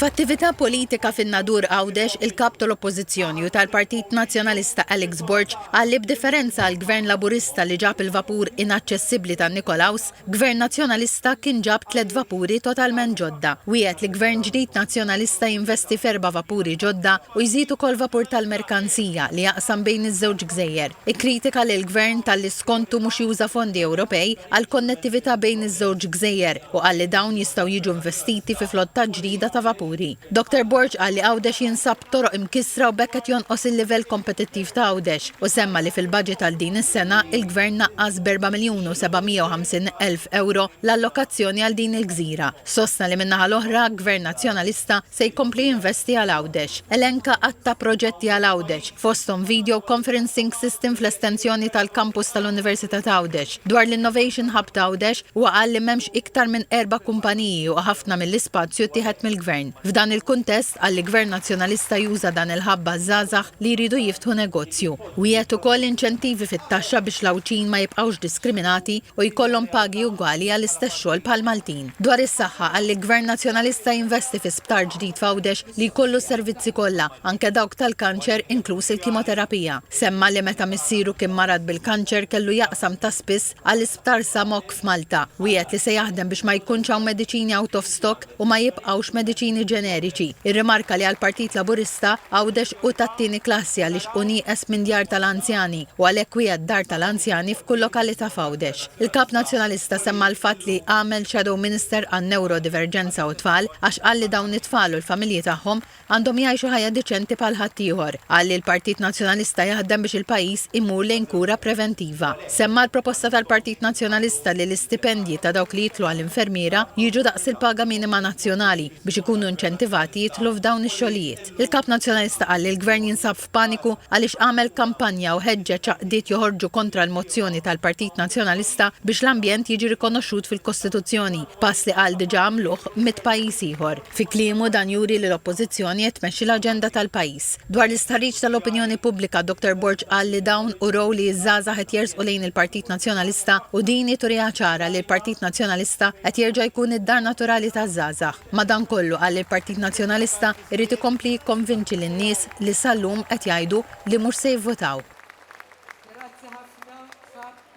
F'attività politika fin-Nadur Għawdex, il-Kap tal-Oppożizzjoni u tal-Partit Nazzjonalista Alex Borg qal li b'differenza għall-Gvern Laburista li ġab il-vapur inaċċessibbli tan-Nikolaws, Gvern Nazzjonalista kien ġab tliet vapuri totalment ġodda. Wiegħed li Gvern ġdid Nazzjonalista jinvesti f'erba' vapuri ġodda u jżid ukoll vapur tal-merkanzija li jaqsam bejn iż-żewġ gżejjer. Ikkritika lill-Gvern talli skontu mhux juża fondi Ewropej għall-konnettività bejn iż-żewġ gżejjer. u qal li dawn jistgħu jiġu investiti fi flotta ġdida ta' vapuri. Dottor Borg qal li Għawdex jinsab b'toroq imkissra u b'hekk qed jonqos il-livell kompetittiv ta' Għawdex u semma li fil-baġit għal din is-sena, il-Gvern naqqas b'erba' miljun u seba' mija u ħamsin elf ewro l-allokazzjoni għal din il-gżira. Sostna li min-naħa l-oħra, Gvern Nazzjonalista, Se jkompli jinvesti għal Għawdex. Elenka għadd ta' proġetti għal Għawdex, fosthom video conferencing system fl-estensjoni tal-kampus tal-Università ta' Għawdex. Dwar l-Innovation Hub ta' Għawdex, huwa qal li m'hemmx iktar minn erba' kumpaniji u ħafna mill-ispazju ttieħed mill-Gvern. F'dan il-kuntest, qal li Gvern Nazzjonalista juża dan il-hub għaż-żgħażagħ li jridu jiftħu negozju. Wiegħed ukoll inċentivi fit-taxxa biex l-Għawdxin ma jibqgħux diskriminati u jkollhom pagi ugwali għall-istess xogħol bħall-Maltin. Dwar is-saħħa qal li Gvern Nazzjonalista jinvesti fi sptar ġdid f'Għawdex li jkollu s-servizzi kollha, anke dawk tal-kanċer inkluż il-kimoterapija. Semma li meta missieru kien marad bil-kanċer kellu jaqsam ta' spiss għall-Isptar Sa Mokk f'Malta. Wiegħed li se jaħdem biex ma jkunx hawn mediċini out of stock. u ma jibqgħux mediċini ġeneriċi. Irrimarka li għall-Partit Laburista, Għawdex hu tat-tieni klassi għaliex hu nieqes minn djar tal-anzjani u għalhekk wiegħed dar tal-anzjani f'kull lokalità f'Għawdex. Il-Kap Nazzjonalista semma l-fatt li għamel Shadow Minister għan-Newrodiverġenza u t-Tfal għax qal li dawn it-tfal u l-familji tagħhom, Għandhom jgħixu ħajja deċenti bħal ħaddieħor. Qal li l-Partit Nazzjonalista jaħdem biex il-pajjiż imur lejn kura preventiva. Semma l-proposta tal-Partit Nazzjonalista li l-istipendji ta' dawk li jidħlu għal infermiera jiġu daqs il-paga minima nazzjonali biex ikunu inċentivati jidħlu f'dawn ix-xogħlijiet. Il-Kap Nazzjonalista qal li l-Gvern jinsab f'paniku għaliex għamel kampanja u ħeġġeġ għaqdiet joħorġu kontra l-mozzjoni tal-Partit Nazzjonalista biex l-ambjent jiġi rikonoxxut fil-Kostituzzjoni, pass li qal diġà għamluh mitt pajjiż ieħor. Fi kliemu dan juri li l-Oppożizzjoni qed tmexxi l-aġenda tal-pajjiż. Dwar l-istħarriġ tal-opinjoni pubblika, Dottor Borg qal li dawn urew li ż-żgħażagħ qed jersqu lejn il-Partit Nazzjonalista u din hi turiha ċara li l-Partit Nazzjonalista qed jerġa' jkun id-dar naturali taż-żgħażagħ. Madankollu, qal li l-Partit Nazzjonalista jrid ikompli jikkonvinċi lin-nies li sal-lum qed jgħidu li mhux se jivvotaw.